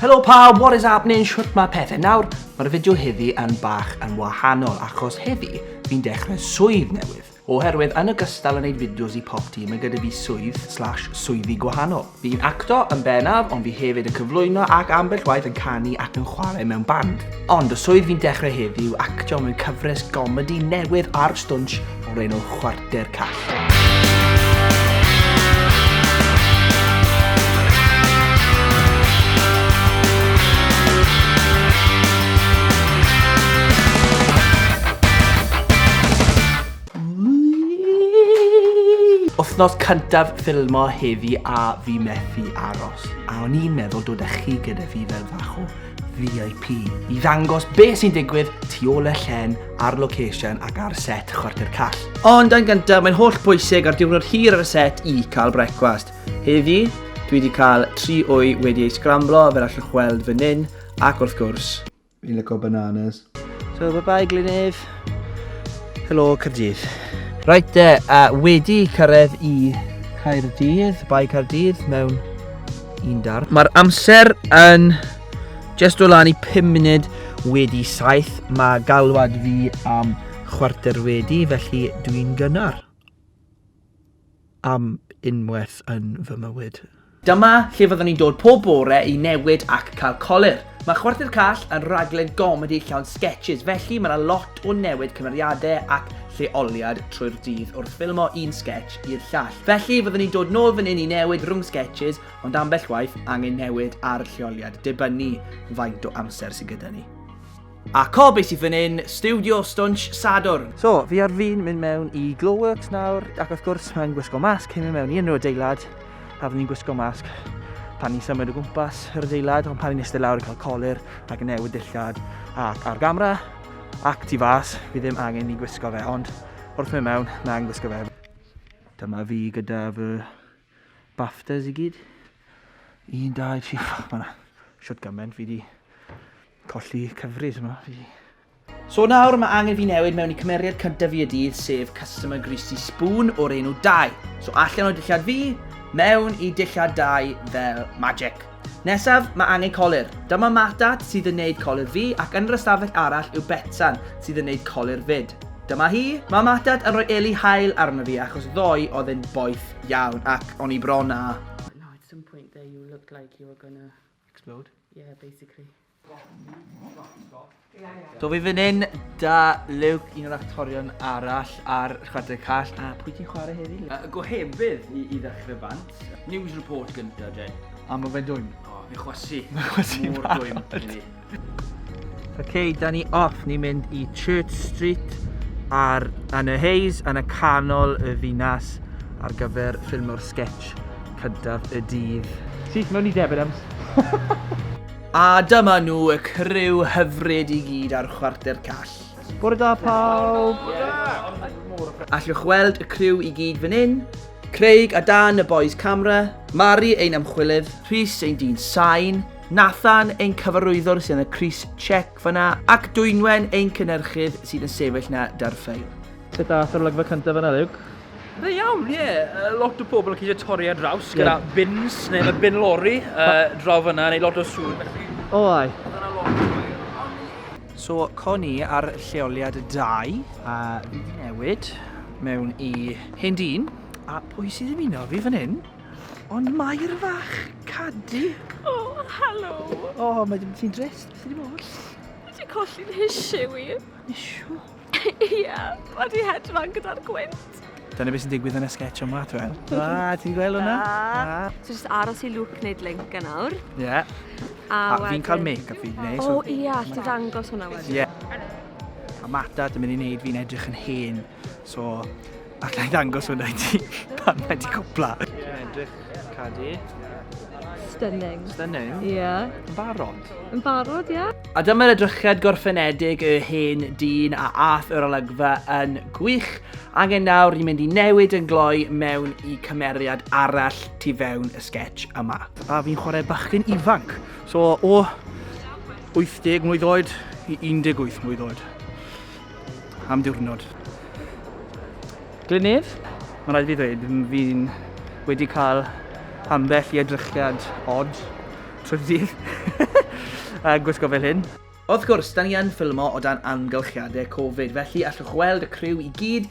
Helo pawb, what is happening? Shwt mae pethau nawr? Mae'r fideo heddi yn bach yn wahanol achos heddi fi'n dechrau swydd newydd. Oherwydd yn ogystal yn neud fideos i Pop Tee mae gyda fi swydd slash swyddi gwahanol. Fi'n acto yn bennaf ond fi hefyd yn cyflwyno ac ambell waith yn canu ac yn chwarae mewn band. Ond y swydd fi'n dechrau heddi yw actio mewn cyfres gomedi newydd ar Stwnsh o'r enw Chwarter Call. Wythnos cyntaf ffilmo heddi a fi methu aros, a o'n i'n meddwl dod â chi gyda fi fel fach o VIP i ddangos be sy'n digwydd tu ôl y llen ar location ac ar set chwarter call. Ond yn gyntaf, mae'n holl bwysig ar diwrnod hir ar y set i cael brecwast. Heddi, dwi wedi cael tri wy wedi ei sgramblo fel allwch weld fan hyn, ac wrth gwrs, Fi'n lyco bananas. So, bye bye Glynedd. Helo Cyrdydd. Right de, a wedi cyrraedd i Caerdydd, bai Caerdydd mewn un dar. Mae'r amser yn just o lan i 5 munud wedi 7. Mae galwad fi am chwarter wedi, felly dwi'n gynnar. am unwaith yn fy mywyd. Dyma lle fyddwn ni'n dod pob bore i newid ac cael colur. Mae Chwarter Call yn rhaglen gomedi llawn sgetshis, felly mae 'na lot o newid cymeriadau ac lleoliad trwy'r dydd wrth ffilmo un sgetsh i'r llall. Felly fyddwn ni'n dod nôl fan hyn i newid rhwng sgetshis, ond ambell waith angen newid ar lleoliad, dibynnu faint o amser sydd gyda ni. A cob es i fan hyn, Studio Stwnsh Sadwrn. So, fi ar fin mynd mewn i Glowworks nawr, ac wrth gwrs mae'n gwisgo masg cyn mynd mewn i unrhyw adeilad, a fydden ni'n gwisgo masg pan ni'n symud o gwmpas yr adeilad, ond pan ni'n eistedd lawr yn cael colir ac yn newid dillad ac ar gamera ac tu fas, fi ddim angen i gwisgo fe, ond wrth mynd mewn, mae angen gwisgo fe. Dyma fi gyda fy Baftas i gyd. Un, dau, tri, ffwc, mae'na siwt gymaint fi di colli cyfris yma. Fi di... So nawr mae angen fi newid mewn i cymeriad cyntaf fi y dydd, sef Customer Greasy Spoon o'r enw 2. So allan o dillad fi, mewn i dillad 2 fel magic. Nesaf, mae angen colur. Dyma Matat sydd yn neud colur fi ac yn yr ystafell arall yw Betsan sydd yn neud colur fyd. Dyma hi. Mae Matat yn rhoi eli hael arno fi achos ddoe oedd e'n boeth iawn ac o'n i bron â. Now at some point there you looked like you were gonna. Explode? Yeah, basically. So fi fan hyn da Luke, un o'r actorion arall ar Chwarae Call, a pwy ti'n chwarae heddi? Uh, gohebydd i, i ddechrau bant. News report gyntaf, Jen. A mae fe'n dwym? O, oh, fi chwasu. Mae chwasu Mor dwym i Ok, da ni off, ni'n mynd i Church Street ar yn y Hayes, yn y canol y ddinas ar gyfer ffilm o'r sketch cyntaf y dydd. Syth mewn i Debenhams. A dyma nhw y criw hyfryd i gyd ar Chwarter Call. Bore da pawb! Allwch weld y criw i gyd fan hyn. Craig a Dan y boys camera, Mari ein ymchwilydd, Rhys ein dyn sain, Nathan ein cyfarwyddwr sy'n y Chris Check fanna, ac Dwynwen ein cynnyrchydd sydd yn sefyll na da'r ffeil. Beth da, thro'r olygfa cyntaf yna Luke. Da iawn, ie. Yeah. Lot o pobl yn ceisio torri ar draws gyda yeah. bins neu mae bin lori uh, draw fyna neu lot o sŵn. O, oh, ai. So, con ni ar lleoliad 2 a fi wedi newid mewn i hyn dyn. A pwy sydd yn uno fi fan hyn? Ond Mair fach, Cadi. O, oh, helo. O, oh, mae ddim ti'n drist, beth ydi bod? Ti'n colli'n hisiw i. Hisiw? Ie, mae di hedfan gyda'r gwynt. Dyna beth sy'n digwydd yn y sketch yma, ti'n gweld? A, ti'n gweld hwnna? A. So jyst aros i Luke wneud link yn awr. Ie. Yeah. A, a fi'n cael make-up fi, neu? O, ie, yeah, allti ddangos hwnna wedyn. Ie. Yeah. A Mata, dwi'n mynd i wneud fi'n edrych yn hen, so... A ga i ddangos hwnna i ti pan mae di cwpla. Dwi'n edrych cadi. Stunning. Stunning? Ie. Yeah. Yn barod? Yn barod, ie. Yeah. A dyma'r edrychiad gorffenedig y hen dyn a ath yr olygfa yn gwych. Angen nawr ni'n mynd i newid yn gloi mewn i cymeriad arall tu fewn y sketch yma. A fi'n chwarae bachgen ifanc. So o 80 mlwydd oed i 18 mlwydd oed. am diwrnod. Glynnydd, mae'n rhaid fi ddweud, fi'n wedi cael ambell i edrychiad odd trwy'r dydd a gwisgo fel hyn. Wrth gwrs, da ni yn ffilmo o dan amgylchiadau Covid, felly allwch weld y criw i gyd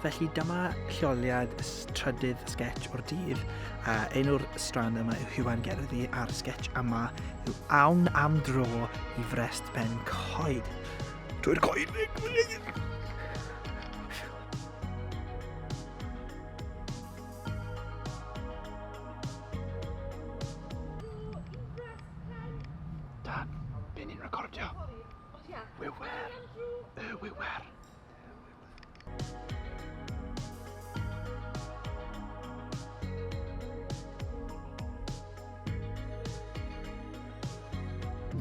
Felly dyma lleoliad trydydd sketch o'r dydd, a enw'r strand yma yw Huan Gerddi a'r sketch yma yw Awn am dro i frest ben coed. Drwy'r coed! Dan, be ni'n recordio? Wiwer. Y wiwer.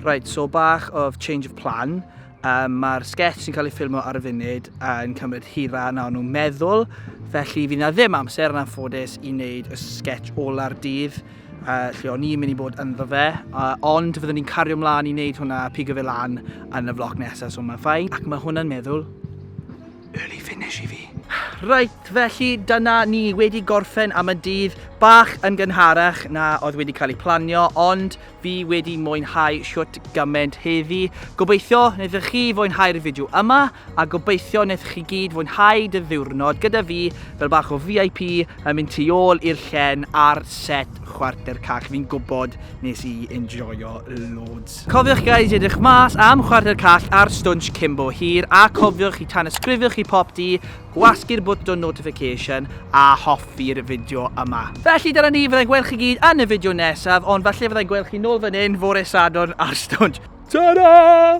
Right, so bach of change of plan. Um, Mae'r sketch sy'n cael ei ffilmo ar y funud yn cymryd hira na nhw'n meddwl, felly fi na ddim amser yn anffodus i wneud y sketch ola'r dydd. uh, lle o'n i'n mynd i bod ynddo fe, uh, ond fyddwn ni'n cario mlaen i wneud hwnna a pigo fe lan yn y vlog nesaf, so mae'n ffain. Ac mae hwnna'n meddwl, early finish i fi. Reit, felly dyna ni wedi gorffen am y dydd bach yn gynharach na oedd wedi cael ei planio, ond fi wedi mwynhau siwt gymaint heddi. Gobeithio wnaethoch chi fwynhau'r fideo yma, a gobeithio wnaethoch chi gyd fwynhau dy ddiwrnod gyda fi fel bach o VIP yn mynd tu ôl i'r llen ar set chwarter cach. Fi'n gwybod nes i enjoyo loads. Cofiwch guys i edrych mas am chwarter cach ar Stwnsh Cimbo Hir a cofiwch i tanysgrifio chi pop di, gwasgu'r bwtwn notification a hoffi'r fideo yma. Felly dyna ni, fyddai'n gweld chi gyd yn y fideo nesaf, ond falle fyddai'n gweld chi nôl fan hyn fore Sadwrn ar Stwnsh. Ta-ra!